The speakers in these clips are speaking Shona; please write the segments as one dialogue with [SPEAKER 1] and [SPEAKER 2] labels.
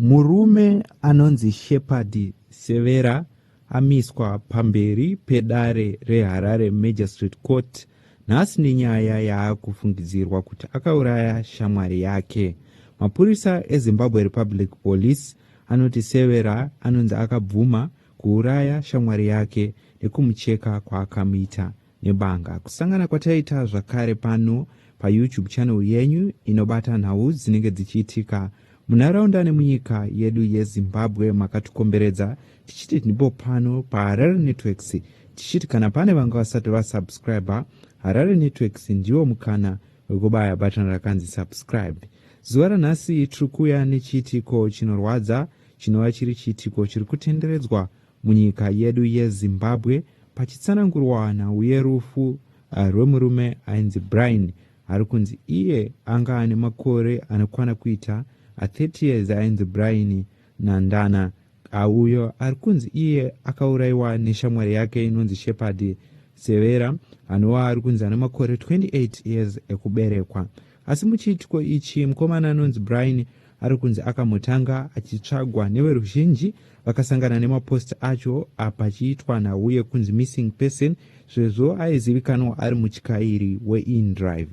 [SPEAKER 1] Murume anonzi Shepherd Severa amiswa pamberi pedare reHarare Magistrate Court nhasi nenyaya yaakufungidzirwa kuti akauraya shamwari yake. Mapurisa eZimbabwe Republic Police anoti Severa anonzi akabvuma kuuraya shamwari yake nekumucheka kwaakamuita. nebanga. Kusangana kwataita zvakare pano paYouTube channel yenyu inobata nhau dzinenge dzichiitika munharaunda nemunyika yedu yeZimbabwe makatikomberedza tichiti ndipo pano paHarare Networks tichiti kana pane vanga vasati vasubscriber Harare Networks ndiwo mukana wekubaya button rakanzi subscribe. Zuva ranhasi tiri kuuya nechiitiko chinorwadza chinova chiri chiitiko chiri kutenderedzwa Munyika yedu yeZimbabwe, pachitsanangurwa nhau yerufu eh, rwemurume ainzi Brian ari kunzi iye anga ane makore anokwana kuita a 30 years ainzi Brian Nandana auyo ari kunzi iye akauraiwa neshamwari yake inonzi Shepherd Severa anova ari kunzi ane makore 28 years ekuberekwa. Asi muchiitiko ichi, mukomana anonzi Brian ari kunzi akamutanga achitsvagwa neveruzhinji vakasangana nemapost acho apachiitwa nhau yekunzi missing person sezvo aizivikanwa ari mutyairi weindrive.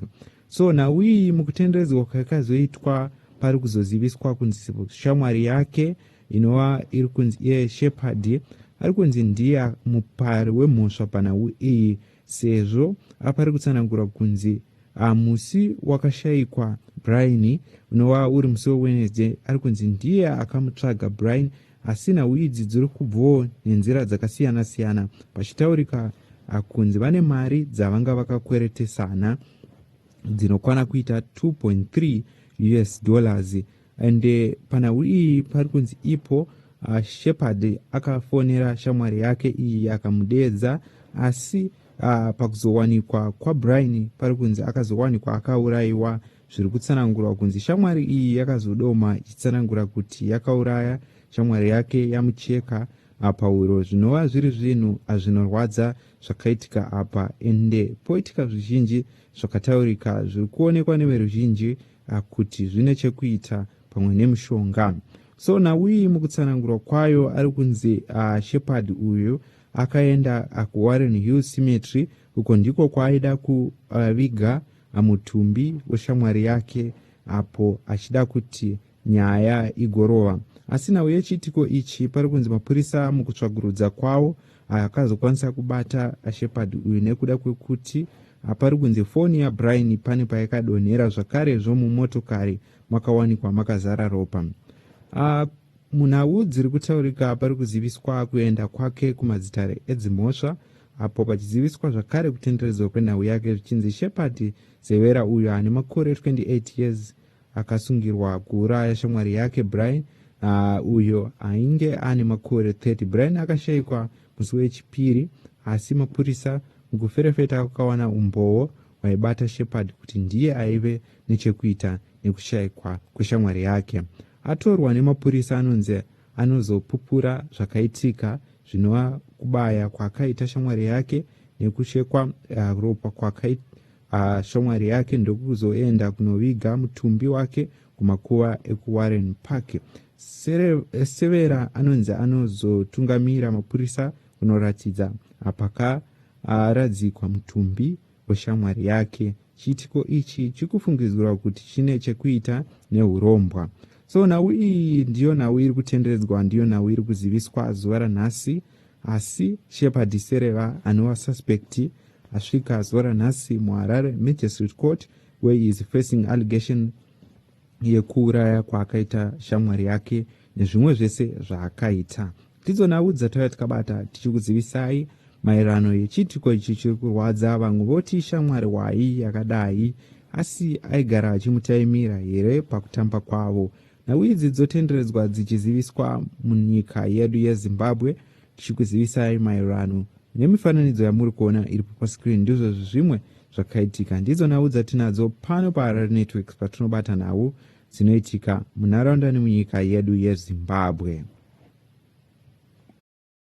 [SPEAKER 1] So nhau iyi mukutenderedzwa kwayakazoitwa pari kuzoziviswa kunzi shamwari yake inova iri kunzi iye Shepherd ari kunzi ndiye mupari wemhosva panhau iyi sezvo apari kutsanangura kunzi Ah, musi wakashaikwa Brian unova uri musi weWednesday ari kunzi ndiye akamutsvaga Brian asi nhau idzi dziri kubvawo nenzira dzakasiyana siyana pachitaurika ah, kunzi vane mari dzavanga vakakweretesana dzinokwana kuita 2.3 us dollars and eh, panhau iyi pari kunzi ipo ah, shepherd akafonera shamwari yake iyi akamudeedza asi Uh, pakuzowanikwa kwabrian pari kunzi akazowanikwa akaurayiwa zviri kutsanangurwa kunzi shamwari iyi yakazodoma ichitsanangura kuti yakauraya shamwari yake yamucheka apa huro zvinova zviri zvinhu azvinorwadza zvakaitika apa ende poitika zvizhinji zvakataurika zviri kuonekwa neveruzhinji ah, kuti zvine chekuita pamwe nemushonga so nawiyi mukutsanangurwa kwayo ari kunzi ah, shepard uyu Akaenda kuWarren Hill Cemetery uko ndiko kwaaida kuviga mutumbi weshamwari yake apo achida kuti nyaya igorova. Asi nhau yechiitiko ichi pari kunzi mapurisa mukutsvagurudza kwawo akazokwanisa kubata Shepard uyu nekuda kwekuti pari kunzi foni yaBrian pane payakadonhera zvakarezvo mumotokari makawanikwa makazara ropa. Uh, Munhau dziri kutaurika pari kuziviswa kuenda kwake kumadzitare edzimhosva apo pachiziviswa zvakare kutenderedzwa kwenhau yake zvichinzi Shepherd Zevera uyo ane makore 28 years akasungirwa kuuraya shamwari yake Brian uh, uyo ainge ane makore 30. Brian akashaikwa musi weChipiri asi mapurisa mukuferefeta kwakawana umbowo vaibata Shepherd kuti ndiye aive nechekuita nekushaikwa kweshamwari yake. Atorwa nemapurisa anonzi anozopupura zvakaitika zvinova kubaya kwakaita shamwari yake nekuchekwa uh, ropa kwakaita uh, shamwari yake ndokuzoenda kunoviga mutumbi wake kumakuva ekuwarren park severa anonzi anozotungamira mapurisa kunoratidza apaka Aaradzikwa mutumbi weshamwari yake. Chiitiko ichi chikufungidzirwa kuti chine chekuita nehurombwa. So nhau iyi ndiyo nhau iri kutenderedzwa, ndiyo nhau iri kuziviswa zuva ranhasi. Asi Shepherd Sereva anova suspect asvika zuva ranhasi muHarare Magistrate Court where he is facing allegation yekuuraya kwaakaita shamwari yake nezvimwe zvese zvaakaita ndidzo nhau dzatauya tikabata tichikuzivisai maererano yechiitiko ichi chiri kurwadza vamwe voti shamwari wai yakadai asi aigara achimutaimira here pakutamba kwavo nhau idzi dzotenderedzwa dzichiziviswa munyika yedu yezimbabwe tichikuzivisai maererano nemifananidzo yamuri kuona iripo pascreen ndizvo zvimwe zvakaitika ndidzo nhau dzatinadzo pano paharare networks patinobata nhau dzinoitika munharaunda nemunyika yedu yezimbabwe